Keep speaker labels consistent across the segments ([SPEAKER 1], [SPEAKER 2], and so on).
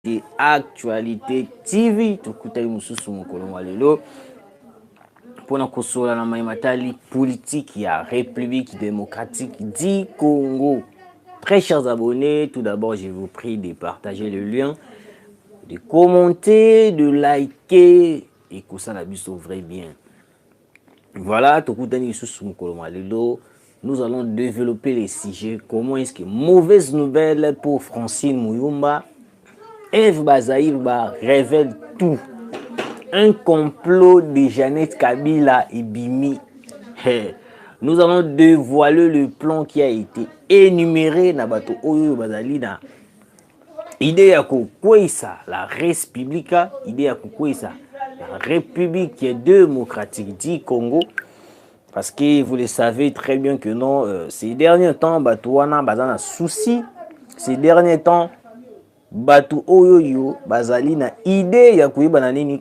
[SPEAKER 1] et actualité tv tokutaki mosusu mokolo mwa lelo mpo na kosola na mai matali politiki ya république démocratique du congo très chers abonnés tout d'abord je vous prie de partager le lien de commenter de liker ekosala biso vrai bien Voilà, tokutani lisusu mokolo mwa lelo. Nous allons développer les sujets. Comment est-ce que mauvaise nouvelle pour Francine Muyumba, Eve Bazaïr ba révèle tout. Un complot de Jeannette Kabila et Bimi. Hey. Nous allons dévoiler le plan qui a été énuméré na bato oyo bazali na idee ya kokweisa la res publica idee ya kokweisa la république démocratique du congo parce que vous le savez très bien que non euh, ces derniers temps bato wana baza na souci ces derniers temps bato oyo yo bazali na idee ya koyeba na nini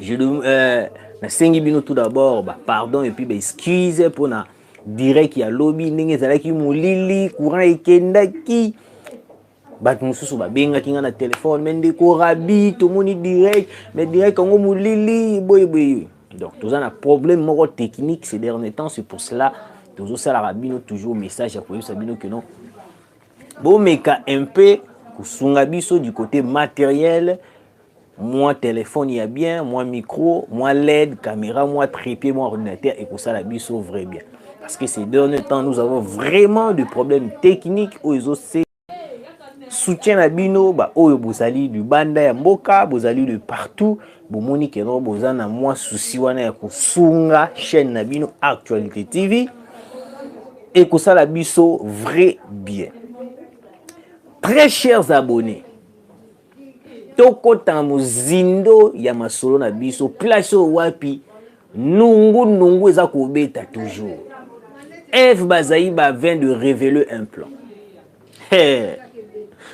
[SPEAKER 1] Je, euh, nasengi bino tout d'abord ba pardon et puis ba excuse mpo na direct ya lobi ndenge ezalaki molili courant ekendaki bato mosusu babengaki ngai na telefone me ndeko rabi tomoni direct me direct yango molili boyeboye donc toza na problème moko technique ces derniers temps c'est pour cela tozosalaka bino toujours message ya koyebisa bino que non bomeka un peu kosunga biso du côté matériel mwa telefone ya bien mwa micro mwa led camera mwa trépied mwa ordinateur ekosala biso vrai bien parce que ces derniers temps nous avons vraiment de problème technique oyo ezose soutien na bino baoyo bozali libanda ya mboka bozali de partout bomoni keno boza na mwa susi wana ya kosunga chaîne na bino actualité tv ekosala biso vrai bien très chers abonnés tokota na mozindo ya masolo na biso place oyo wapi nungu nungu eza kobeta toujours eve bazali ba vin de révéler un plan hey.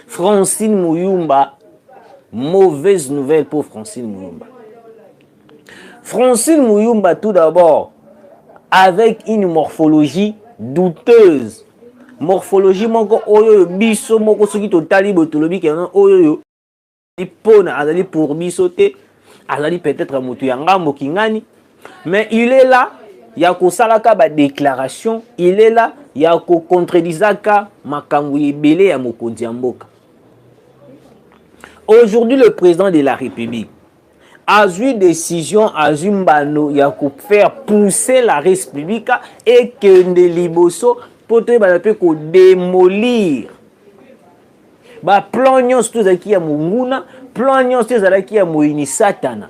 [SPEAKER 1] francine muyumba mauvaise nouvelle pour francine muyumba Francine Muyumba, tout d'abord, avec une morphologie douteuse. Morphologie moko oyo biso moko soki totali boye tolobi kena oyo oyo pona azali pour biso te azali peut-être motu ya ngambo kingani mais il est là ya kosalaka badéclaration il est là ya kocontredisaka makambo ebele ya mokonzi ya mboka aujourd'hui le président de la république azwi decision azwi mbano ya kofaire pousser la res publica ekende liboso mpo toyebana mpe kodemolir baplan nyonso to ezalaki ya monguna plan nyonso to ezalaki ya moyini satana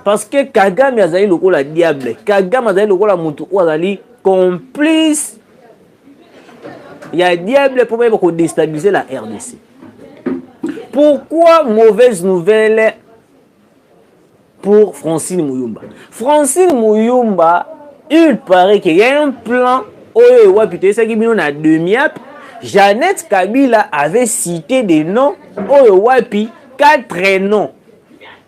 [SPEAKER 1] parce que kagame azali lokola diable kagame azali lokola moto oyo azali complice ya diable mpo bayeba kodestabilise la rdc pourquoi mauvaise nouvelle pour francine muyumba francine muyumba il paraît qu'il y a un plan oyo ewapi toyesaki bino na demiap jeannette kabila avait cité des noms oyo wapi quatre noms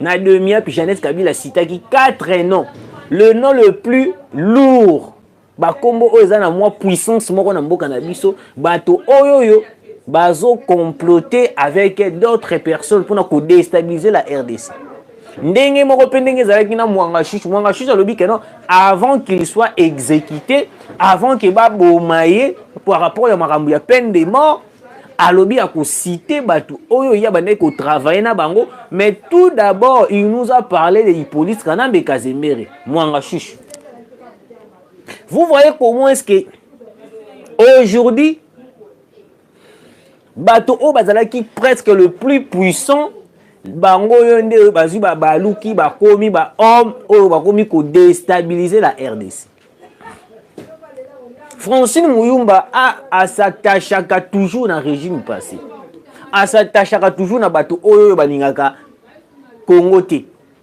[SPEAKER 1] na demiap jeannette kabila citaki quatre noms le nom le plus lourd bakombo oyo eza na mwa puissance moko na mboka na biso bato oyo oyo bazo comploter avec d'autres personnes mpona kodestabiliser la rdc ndenge moko mpe ndenge ezalaki na mwanga shushi mwanga shushi alobi ke non avant qu'il soit exécuté avant ke baboma ye par rapport ya makambo ya peine de mort alobi akosite bato oyo ye abandaki kotravaille na bango mais tout d'abord il nous a parlé de hippolyte kanambe kazembere mwanga shushi Vous voyez comment est-ce que aujourd'hui bato oyo bazalaki presque le plus puissant bango oyo nde oyo bazwi babaluki bakomi bahomme oyo bakomi kodestabilize la rdc francine muyumba asatachaka toujours na régime passé asatachaka toujours na bato oyo oyo balingaka kongo te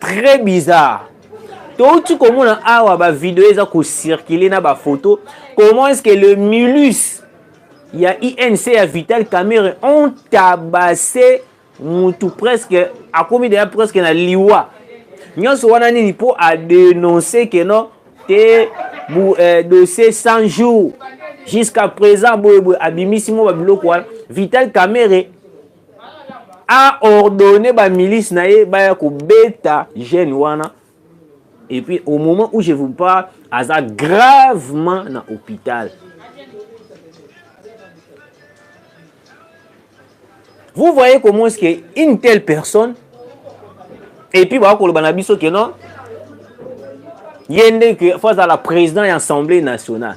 [SPEAKER 1] très bizarre touti komona awa bavideo eza kocircule na bafoto comment est ce que le mulus ya inc ya vital camere ont tabase mutu presque akomi deya presque na liwa nyonso wana nini mpo adenonce ke no te bu, eh, dossier 100 jours jusqu'à présent boye boye abimisi mwa babiloko wana vital camere a ordonné ba milice na ye baya kobeta jeune wana et puis au moment où je vous parle aza gravement na hôpital vous voyez comment est-ce que une telle personne et puis bakoloba na biso ke non ye nde ke fo azala président ya assemblée nationale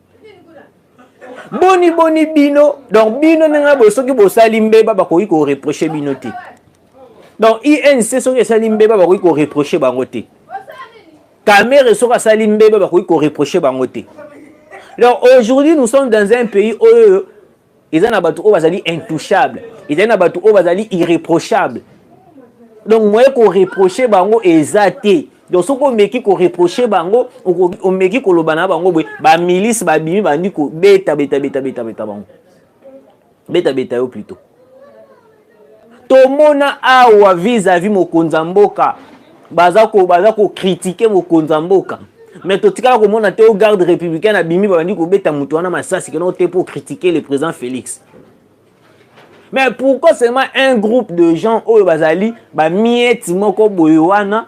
[SPEAKER 1] boni boni bino donc bino ndenge na boye soki bosali mbeba bakoki koreproche bino te donc inc soki esali mbeba bakoki koreproche bango te kamere soki asali mbeba bakoki koreproche bango te donc aujourd'hui nous sommes dans un pays oyo eza na bato oyo bazali intouchable ezali na bato oyo bazali irréprochable donc moye koreproche bango eza te donc soki omeki koreproche bango omeki koloba na bango boye bamilise babimi bandi kobeta beta beta beta beta bango beta beta yo plutôt tomona awa vis-à-vis mokonzi ya mboka baza ko baza ko critiquer mokonzi ya mboka mais totikala komona te o garde républicaine abimi babandi kobeta moto wana masasi kena ote mpo critiquer le président félix mais pourquoi seulement un groupe de gens oyo bazali bamieti moko boye wana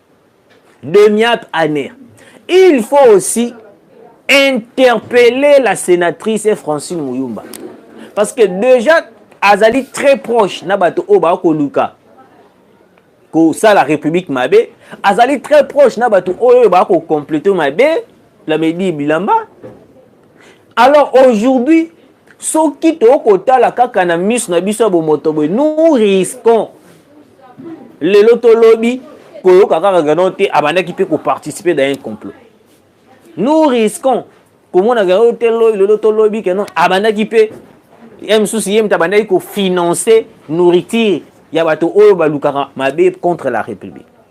[SPEAKER 1] de niak année il faut aussi interpeller la sénatrice et francine muyumba parce que déjà azali très proche na bato oyo baya koluka kosala république mabe azali très proche na bato oyo baya kocomplete mabe lamedi bilamba Alors aujourd'hui, soki tokotala kaka na miso na biso ya bomoto boye, nous risquons lelo to lobi koyoka kaka Gadon te abandaki mpe koparticiper dans un complot. Nous risquons komona Gadon te lelo to lobi keno abandaki mpe ye mosusu ye moto abandaki kofinance nourriture ya bato oyo balukaka mabe contre la république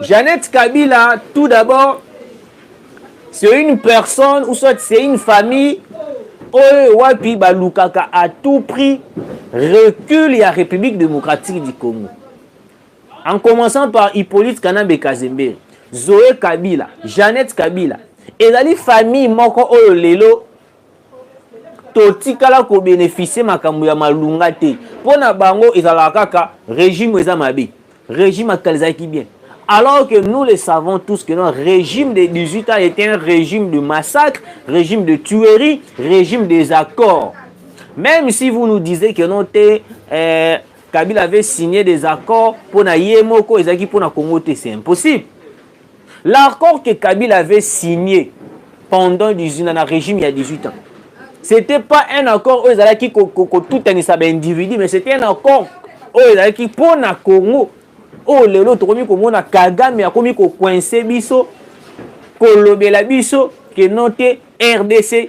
[SPEAKER 1] Jeannette Kabila, tout d'abord, c'est une personne ou soit c'est une famille oyo wapi balukaka à tout prix recul ya République démocratique du Congo. En commençant par Hippolyte Kanambe Kazembe, Zoé Kabila, Jeannette Kabila, ezali famille moko oyo lelo totikala kobenefisie makambo ya malunga te mpo na bango ezalaka kaka regime eza mabe regime akala ezalaki bien alors que nous le savons tous que non régime de 18 ans était un régime de massacre régime de tuerie régime des accords même si vous nous disiez que non te euh, kabila avait signé des accords mpo na ye moko ezalaki mpo na congo te c'est impossible L'accord que Kabila avait signé pendant 18 ans, na régime ya 18 ans, c'était pas un accord oyo ezalaki kotutanisa baindividu, mais c'était un accord oyo ezalaki mpo na Congo oyo lelo tokomi komona Kagame akomi kokoinse biso kolobela biso ke no te RDC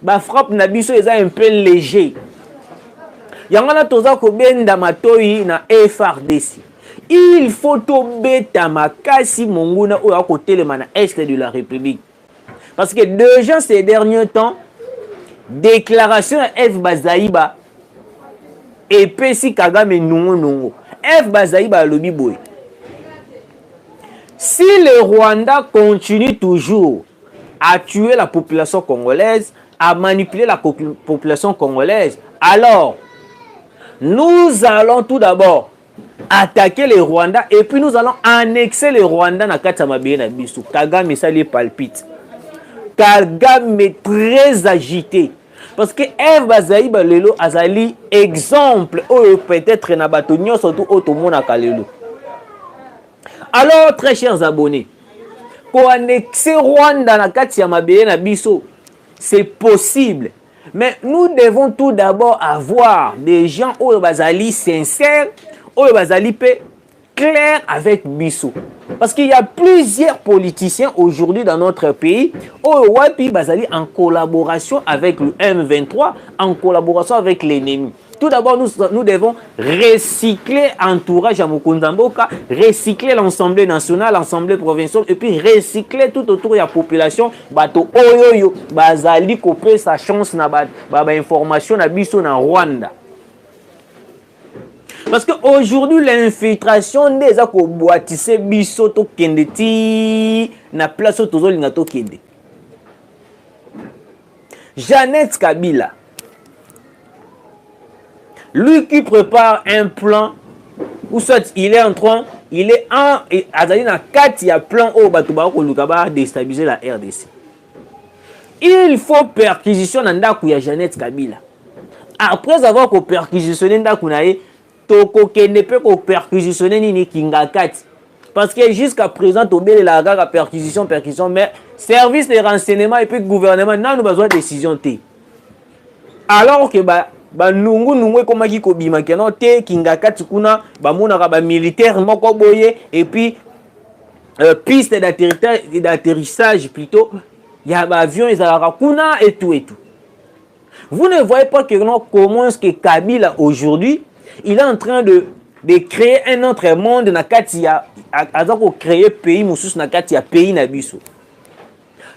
[SPEAKER 1] ba frappe na biso eza un peu léger yango wana toza kobenda matoyi na frdc il faut tobeta makasi monguna oyo akotelema na est de la république parce que déjà ces derniers temps déclaration ya f bazaiba epesi kagame nungunungu f bazaiba alobi boye si le rwanda continue toujours a tuer la population congolaise, a manipuler la population congolaise. Alors, nous allons tout d'abord attaquer les Rwandais et puis nous allons annexer les Rwandais na kati ya mabele na biso. Kagame esali ye palpite. Kagame est très agité. Parce que Eve Bazaï Balelo azali exemple oyo peut-être na bato nyonso tout oyo tomonaka lelo. Alors, très chers abonnés, koannexe rwanda na kati ya mabele na biso c'est possible mais nous devons tout d'abord avoir des gens oyo bazali sincère oyo bazali mpe clair avec biso parce qu'il y a plusieurs politiciens aujourd'hui dans notre pays oyo wapi bazali en collaboration avec le m23 en collaboration avec l'ennemi Tout d'abord, nous, nous devons recycler entourage à Mukundamboka, recycler l'Assemblée nationale, l'Assemblée provinciale, et puis recycler tout autour de la population, bato oyoyo, bazali couper sa chance na ba, ba, ba information na biso na Rwanda. Parce que aujourd'hui l'infiltration nde eza koboitise biso tokende ti na place oyo tozolinga tokende. Jeannette Kabila, lui qui prépare un plan ou soit il est en train il est en azali na kati ya plan oyo bato bakoluka ba destabiliser la rdc il faut perquisition na ndako ya jeannette kabila après avoir koperquisitionne ndako na ye tokokende mpe ko perquisitionne nini kingakati parce que jusqu'à présent tobelelaka kaka perquisition perquisition mais service de renseignement et puis gouvernement nanu bazwa décision te alors que ba banungunungu ekomaki kobima keno te kingakati kuna bamonaka bamilitaire moko boye epuis euh, piste d'atterrissage plutôt ya baavion ezalaka kuna etu etu Vous ne voyez pas que non, comment est-ce que Kabila aujourd'hui, il est en train de, de créer un autre monde na kati ya aza ko créer pays mosusu na kati ya pays na biso.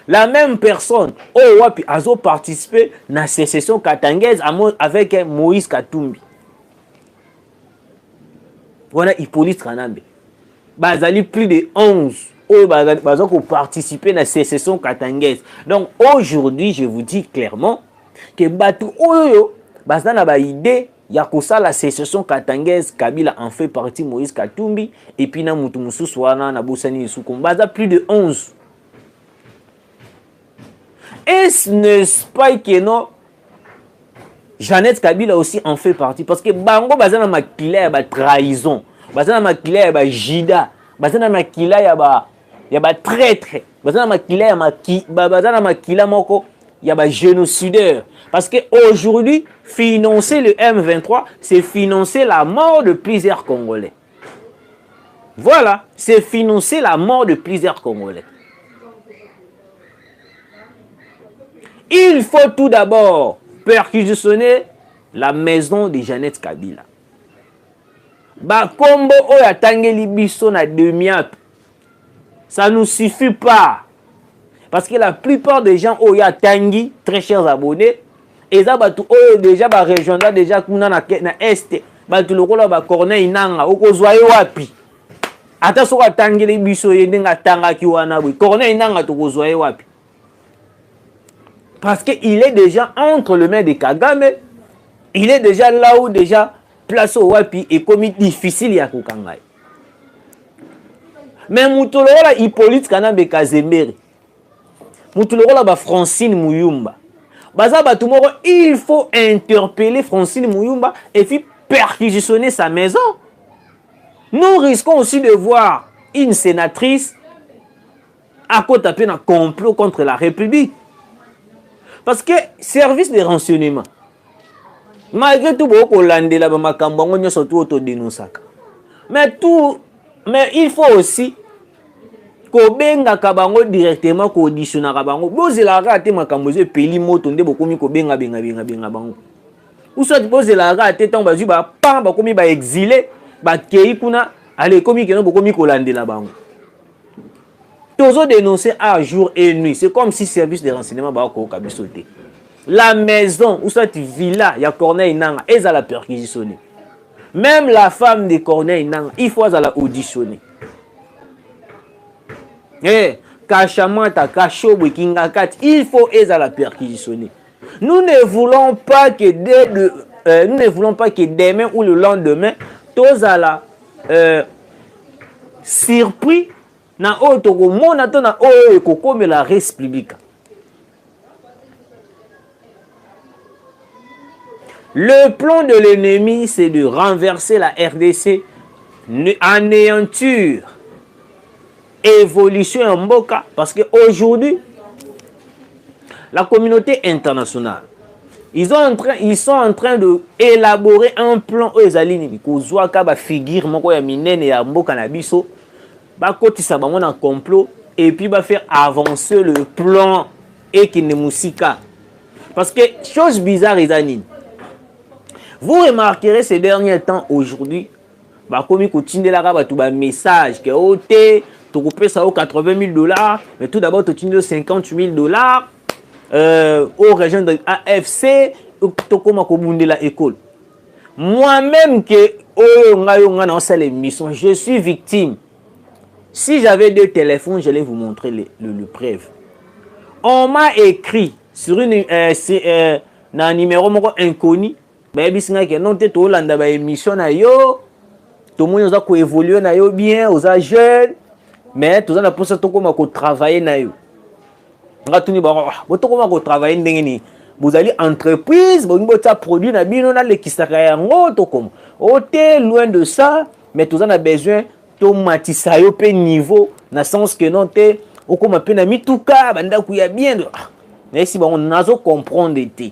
[SPEAKER 1] La même personne oyo wapi azo participer na sécession katangaise avec Moïse Katumbi. wana Hippolyte Kanambe bazali plus de 11 oyo baza koparticipe na secession katangaise donc aujourd'hui je vous dis clairement ke bato oyo baza na baide ya kosala secession katangaise kabila en fait parti moïse katumbi epuis na moto mosusu wana nabosani lisuku baza plus de 11 Est-ce ne pas que non Jeannette Kabila aussi en fait partie parce que bango baza na makila ya ba trahison, baza na makila ya ba jida, baza na makila ya ba ya ba traître, baza na makila ya maki, baza na makila moko ya ba génocidaire parce que aujourd'hui financer le M23 c'est financer la mort de plusieurs Congolais. Voilà, c'est financer la mort de plusieurs Congolais. Il faut tout d'abord perquisitionner la maison de Jeannette Kabila. Bakombo oyo atangeli biso na demiap Ça nous suffit pas. Parce que la plupart des gens oyo ya tangi, très chers abonnés, eza batu oyo déjà ba rejoindra déjà kuna na, na est batu lokola ba corneille nanga okozwa ye wapi ata soki atangeli biso ye ndenge atangaki wana boye corneille nanga tokozwa ye wapi parce que il est déjà entre le main de kagame il est déjà là où déjà place oyo wapi ekomi difficile ya kokanga ye me moto lokola hippolyte kanambe kazembere moto lokola bafrancine muyumba baza bato moko il faut interpeller francine muyumba et puis perquisitionner sa maison nous risquons aussi de voir une sénatrice akota mpe na complot contre la république parce que service de renseignement malgré tout bokoki kolandela bamakambo yango nyonso tu oyo todenosaka mais tout mais il faut aussi kobengaka bango directement koauditionaka bango bozelaka kaka te makambo ezo epeli moto nde bokomi kobenga benga benga benga bango usati bozelaka kaka te ntango bazwi bapan bakomi baexile bakei kuna ale ekomi keno bokomi kolandela bango tozo denoncer a jour et nuit c'est comme si service de renseignement bakoyoka biso te la maison ou soit villa ya corneille nanga ezala perquisitionne même la femme de corneille nanga il faut azala auditionne hey, eh, kashamata kashobwe kingakati il faut ezala perquisitionne Nous ne voulons pas que dès de, euh, nous ne voulons pas que demain ou le lendemain tozala euh, surpris na oyo tokomona to na oyo ekokomela res publica. Le plan de l'ennemi, c'est de renverser la RDC, anéantir evolution ya mboka parce que aujourd'hui la communauté internationale ils, ont en train, ils sont en train de élaborer un plan oyo ezali nini kozwaka bafigure moko ya minene ya mboka na biso bakotisa bango na complot et puis bafaire avancer le plan ekende mosika parce que chose bizarre eza nini vous remarquerez ces derniers temps aujourd'hui bakomi kotindelaka bato ba message ke o oh, te tokopesa yo 80 000 dollars mais tout d'abord totindi yo 50 000 dollars euh, o région de afc tokóma kobundela ekolo moi-même ke oyo ngai yo ngai naosala émission je suis victime si j'avais deux téléphones j'allais vous montrer le, le, le preuve on m'a écrit sur une euh, euh, na numéro moko inconnu bayebisi ngai ke non te toolanda ba émission na yo tomoni oza koévolue na yo bien oza jeune mais toza na mposa tokóma kotravaille na yo nga tuni bango ah, bo tokóma kotravaille ndenge nini bozali entreprise bolingi botia produit na bino nalekisaka yango tokoma o oh, te loin de ça mais toza na besoin tomatisa yo mpe niveau na sens que non te okóma mpe na mituka bandako ya bien ah, nayesi bango nazo comprendre te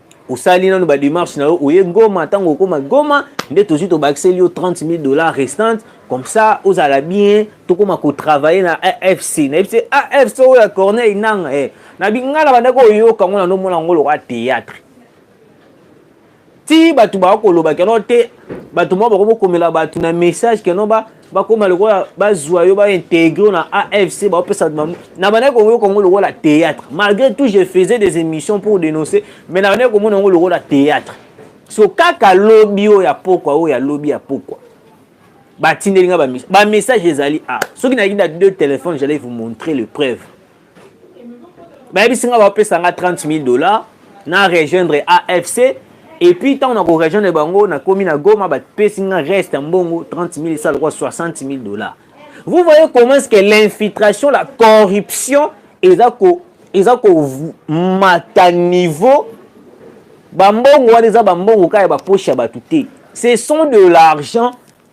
[SPEAKER 1] osali nanu ba démarche na yo oye ngoma ntango okoma goma nde tozwi tobakiseli yo 30 000 dollars restante comme ça ozala bien tokoma kotravaille na afc nayebi te afc oyo ya corneille nanga e na binga na bandaki oyoka yango nano omona yango lokola théâtre ti bato bakolobaka yango te bato moko bakomi komela bato na message keno ba bakoma lokola bazwa yo baintegre na afc baopesa na bandaki komoyo kongo lokola théâtre malgré tout je faisais des émissions pour dénoncer mais na bandaki komona yango lokola théâtre so kaka lobi oyo ya pokwa oyo ya lobi ya pokwa batindeli nga bamessage ezali a soki nayaki na deux téléphone j'allais vous montrer le preuve bayebisi nga bapesa nga 30 000 dollars na rejoindre afc et puis ntango na korejoindre bango nakomi na goma bapesi nga reste ya mbongo 30 000 esa lokwa 60 000 dollars vous voyez comment est ce que l'infiltration la corruption eza ko eza komata niveau bambongo wana eza bambongo kaka ya bapoche ya bato te ce sont de l'argent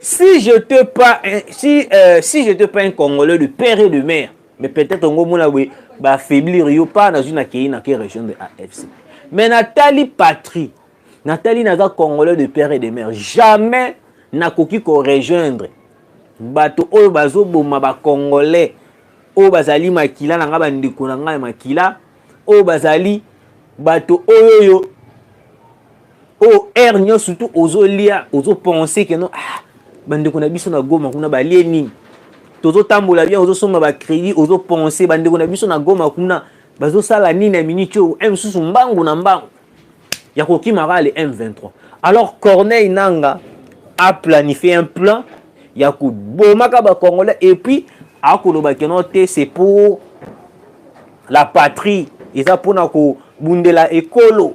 [SPEAKER 1] si je te pas si euh, si je te pas un congolais de père et de mère mais peut-être ngo mona boye ba faiblir yo pas nazwi na kei na ke région de AFC mais natali patrie natali naza congolais de père et de mère jamais nakoki ko rejoindre bato oyo bazoboma ba congolais oyo bazali makila na ngai bandeko na ngai ya makila oyo bazali bato oyo oyo oyo oh, aire nyonso surtout ozolia ozopense keno ah, bandeko na biso na goma kuna balie nini tozotambola bien ozosomba bacrédit ozopense bandeko na biso na goma kuna bazosala nini ya miniti oyo m mosusu mbangu na mbangu ya kokimaka le m23 alors corneille nanga aplanifie un plan ya kobomaka bacongolais et puis akoloba keno te c'est pour la patrie eza mpona kobundela ekolo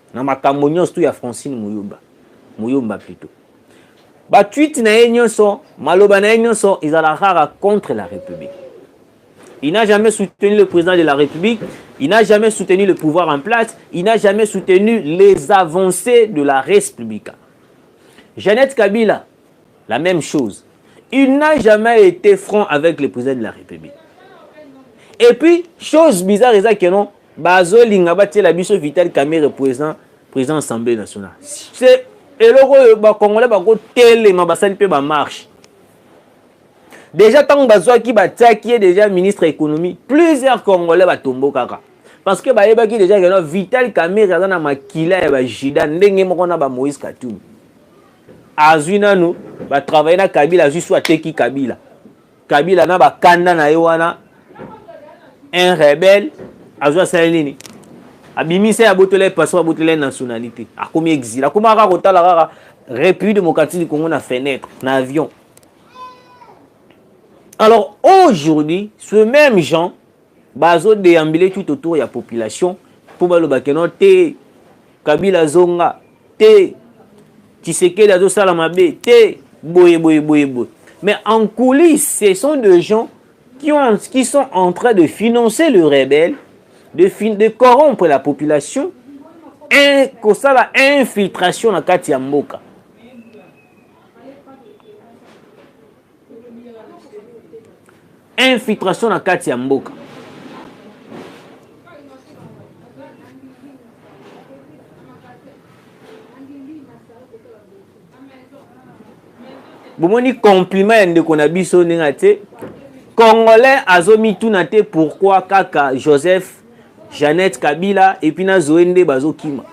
[SPEAKER 1] na makambo nyonso tu ya Francine Muyumba Muyumba plutôt ba tweet na ye nyonso maloba na ye nyonso ezalaka contre la République il n'a jamais soutenu le président de la République il n'a jamais soutenu le pouvoir en place il n'a jamais soutenu les avancées de la République Jeannette Kabila la meme chose il n'a jamais été franc avec le président de la république et puis chose bizarre eza que non bazolinga batiela biso vital camere président président assemblée nationale c'est eloko oyo bacongolais bakotelema basali mpe bamarche déjà ntango bazwaki batiaki ye déjà ministre ya économie plusieurs congolais batombokaka parce que bayebaki déjà keno vital camere aza na makila ya bajida ndenge moko na bamoïse katumbi azwi nanu ba travailler na Kabila azwi soit teki Kabila Kabila na ba kanda na ye wana un rebelle azwa sala nini abimisa ya botola ye passeport abotola ye nationalité akomi exil akoma kaka kotala kaka république démocratique du congo na fenêtre na avion alors aujourd'hui ce même jean Bazo deambule tout autour ya population mpo baloba keno te Kabila azonga te Tshisekedi azosala mabe te boye boye boye boye. Mais en coulisses, ce sont des gens qui, ont, qui sont en train de financer le rebelle, de, fin, de corrompre la population, un, kosala infiltration na kati ya mboka. infiltration na kati ya mboka bomoni compliment ya ndeko na biso ndenge atie congolais azomituna te pourquoi kaka joseph jeannette kabila epuis na zoe nde bazokima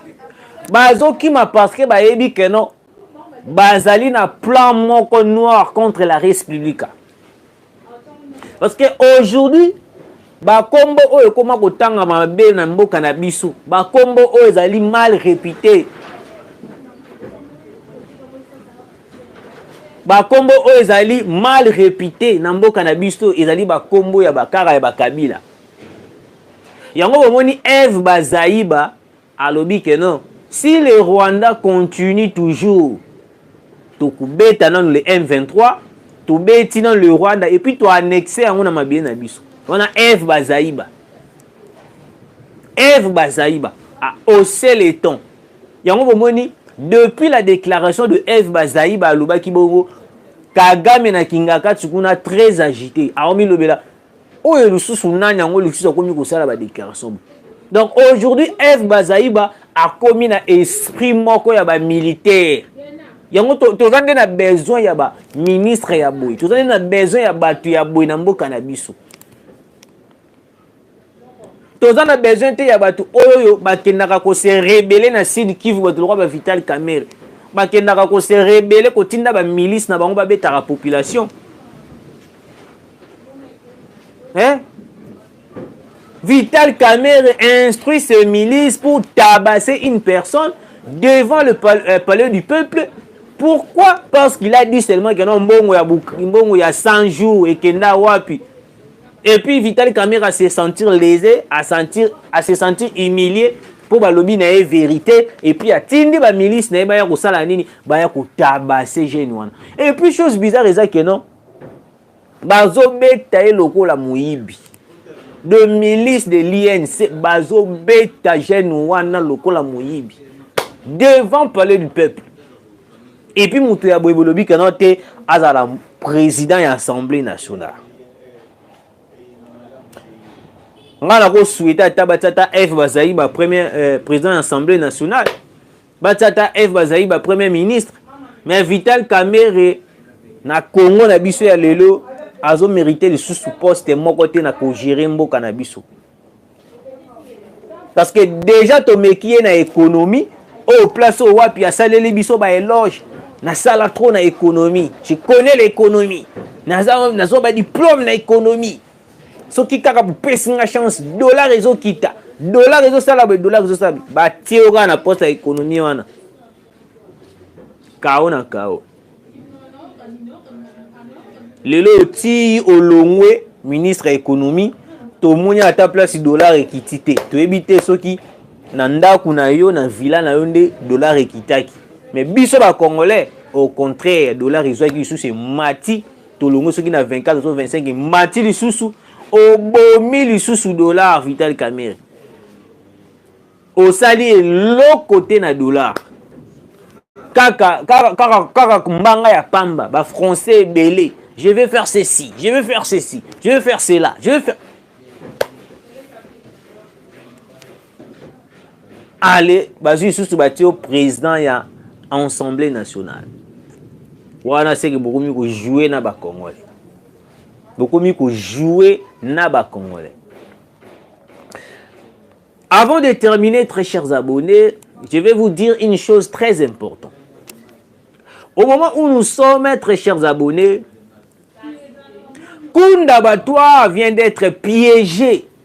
[SPEAKER 1] bazokima parce que bayebi keno bazali na plan moko noir contre la res publica parce que aujourd'hui bakombo oyo ekoma kotanga mabe na mboka na biso bakombo oyo ezali mal repute bakombo oyo ezali mal repute na mboka na biso ezali bakombo ya bakara ya bakabila yango bomoni eve bazaiba Alobi que non si le Rwanda continue toujours tokubeta nanu le M23 tobeti nanu le Rwanda et puis to annexe yango na mabele na biso wana Eve Bazaiba Eve Bazaiba a haussé les tons yango bomoni depuis la déclaration de Eve Bazaiba alobaki bongo Kagame na Kingakati kuna très agité aomilobela oyo lisusu nani yango lisusu akomi kosala ba déclaration donc aujourd'hui eve bazaiba akomi na esprit moko ya ba militaire yango toza nde na besoin ya ba ministre ya boye toza nde na besoin ya bato ya boye na mboka na biso toza na besoin te ya bato oyo bakendaka kose rebele na sud kivu bato lokwa ba vital camere bakendaka kose rebele kotinda bamilice na bango babetaka population Hein? Vital Kamerhe instruit ses milices pour tabasser une personne devant le pal euh, palais du peuple. Pourquoi Parce qu'il a dit seulement que non, Mbongo ya, Mbongo ya 100 jours et Kenda Wapi. Et puis Vital Kamerhe à se sentir lésé, à, sentir, à se sentir humilié pour balobi na ye vérité et puis atindi ba milice na ye baya kosala nini baya kotabase jeune wana et puis chose bizarre eza que non bazobeta ye lokola moyibi de milice de l'inc bazobeta jeune wana lokola moyibi devant palais du peuple epuis moto ya boye bolobi keno te azala président ya assemblée nationale ngai nakosuete ata batia ata f bazali bapremier euh, président ya assemblée nationale Ba tata F bazali ba premier ministre mais Vital Kamerhe na Congo na biso ya lelo azo merite lisusu poste moko te na kogere mboka na biso parce que déjà tomeki ye na économie oyo place oyo wapi asaleli biso ba éloge nasala trop na économie je connais l'économie naza nazo ba diplôme na économie soki kaka bopesi nga chance dollar ezokita dollar ezosala boye dollar ezosala boye batie yo kaka na poste ya ekonomi wana kao na kao lelo otii olongwe ministre ya ekonomi tomoni ata place dollar ekiti te toyebi te soki na ndako na yo na villa na yo nde dollar ekitaki mais biso bacongolais au contraire dollar ezwaki lisusu emati tolongwe soki na 24 to 25 mati lisusu obomi lisusu dollar vital camere osali eloko te na dollar kaka kaka kaka kaka mbanga ya pamba ba français ebele je vais faire ceci je vais faire ceci je vais faire cela je vais faire ale bazwi lisusu batie yo président ya assemblée nationale wana seke bokomi kojoue na bacongolais bokomi kojoue na bacongolais avant de terminer très chers abonnés je vais vous dire une chose très importante au moment où nous sommes très chers abonnés Kunda Batoire vient d'être piégé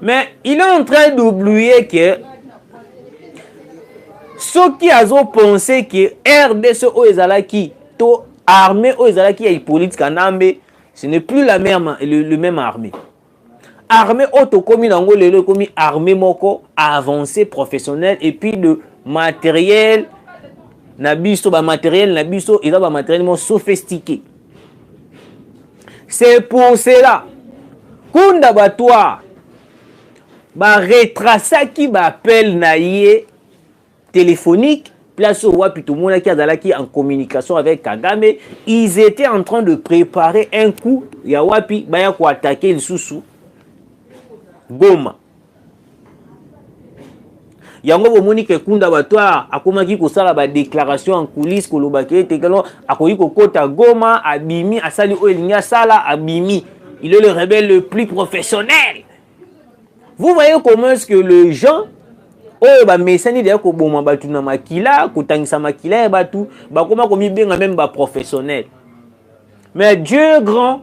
[SPEAKER 1] mais il est en train d'oublier que soki azopense ke rdc oyo ezalaki to armée oyo ezalaki ya hippolyte kanambe ce n'est plus la même, le, le même armée armée oyo tokomi na yango lelo ekomi armée moko avancée professionnelle et puis de matériel na biso bamateriel na biso eza bamateriel moko sophistiqué c'est pour cela kunda batoire baretrasaki baappel na ye téléphonique place oyo wapi tomonaki azalaki en communication avec kagame ils étaient en train de préparer un coup ya wapi baya koatake lisusu goma yango bomoni ke kunda batware akomaki kosala badéclaration en coulisse kolobaki ete kelo akoki kokota goma abimi asali oyo elingi asala abimi il est le rebelle le plus professionnel vous voyez comment est-ce que le gens oyo bamesani deya koboma bato na makila kotangisa makila ya bato bakoma komibenga meme baprofessionnel mais dieu grand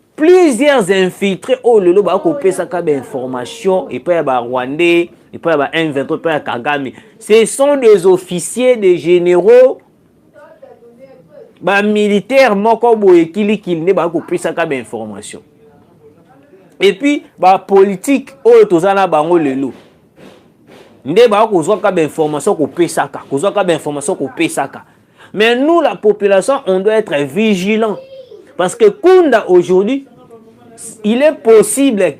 [SPEAKER 1] plusieurs infiltrés oyo oh, lelo bakopesaka bainformation epai ya barwandais epai ya ba m23 epai ya kagame ce sont des officiers des généraux bamilitaire moko boye kilikili nde bakoki kopesaka bainformation epuis bapolitike oyo toza na bango lelo nde bakoki kozwaka bainformation kopesaka kozwaka bainformation kopesaka Mais nous, la population, on doit être vigilant. Parce que Kunda, aujourd'hui, il est possible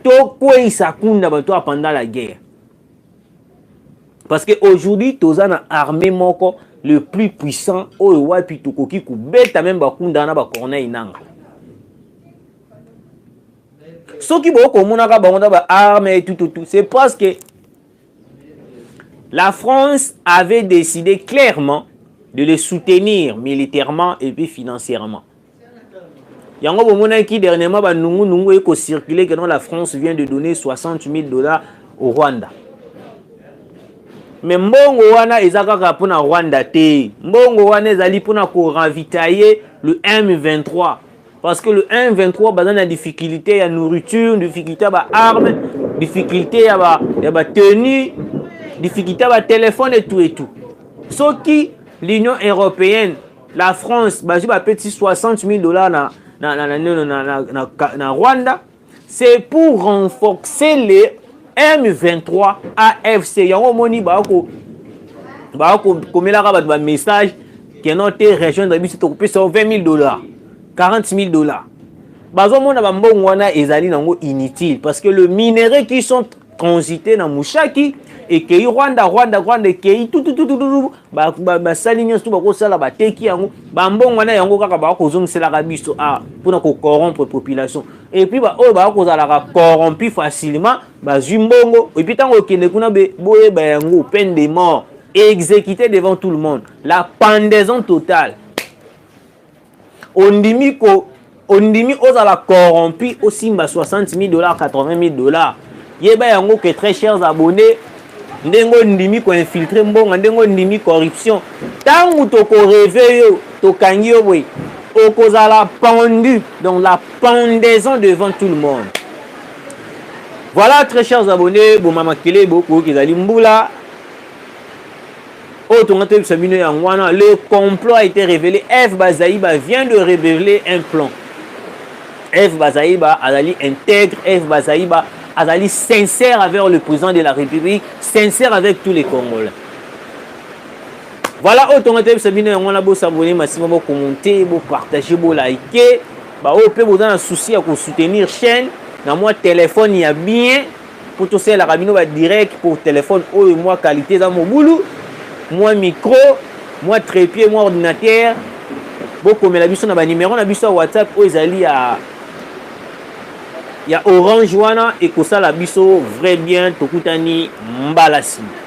[SPEAKER 1] tokweyisa Kunda batoa pendant la guerre. Parce que aujourd'hui, toza na armée moko le plus puissant oyo wapi tokoki kobeta meme bakunda na bacorneille nanga soki bokomonaka bango na baarme tututu c'est parce que La France avait décidé clairement de les soutenir militairement et puis financièrement. yango bomonaki dernièrement banungunungu eko circule que non la france vient de donner 60 000 dollars au rwanda me mbongo wana eza kaka mpo na rwanda te mbongo wana ezali mpo na koravitaye le m23 Parce que le 1-23 baza na difficulté ya nourriture, difficulté ya ba armes, difficulté ya ba ya ba tenue, difficulté ya ba téléphone et tout et tout. Soki l'Union européenne, la France bazwi ba petit 60 000 dollars na na na na, na, na, na, na Rwanda c'est pour renforcer les M23 AFC yango omoni bako bako komelaka bato ba message keno te région na biso tokopesa 20 000 dollars 40 000 dollars bazomona bambongo wana ezali nango inutile parce que le minerai qui sont transite na mushaki ekei rwanda rwanda rwanda ekei tututututu basali nyonso tu bakosala bateki yango bambongo na yango kaka bakozongiselaka biso awa ah, mpona kocorrompre population epuis baoyo baya kozalaka corrompu facilement bazwi mbongo epuis ntango ekende kuna boyeba yango peine de mort exécuté devant tout le monde la pendaison totale ondimi ko ondimi ozala corrompu osimba 60 000 dollars 80 000 dollars yeba yango que très chers abonnés ndenge ondimi koinfiltre mbongo ndenge ondimi corruption ntango tokoreve yo tokangi yo boye okozala pendu donc la pendaison devant tout le monde voilà très chers abonnés bomama kelebo koyoki ezali mbula oyo tonga toyebisa bino yango wana le complot a été révélé eve bazaiba vient de révéler un plan eve bazaiba azali intègre eve bazaiba azali sincère avec le président de la république sincère avec tous les congolais voilà oyo tonga toyebisa bino yango wana bosabone masima bokomonte bopartage bolike baoyo mpe boza na souci ya kosoutenir chaîne na mwa telefone ya bien mpo tosalelaka bino ba direct mpo telefone oyo mwa qualité eza mobulu mwa micro mwa trépied mwa ordinateur bokomela biso na banimero na biso ya whatsapp oyo ezali ya ya orange wana ekosala biso vrai bien tokutani mbala nsima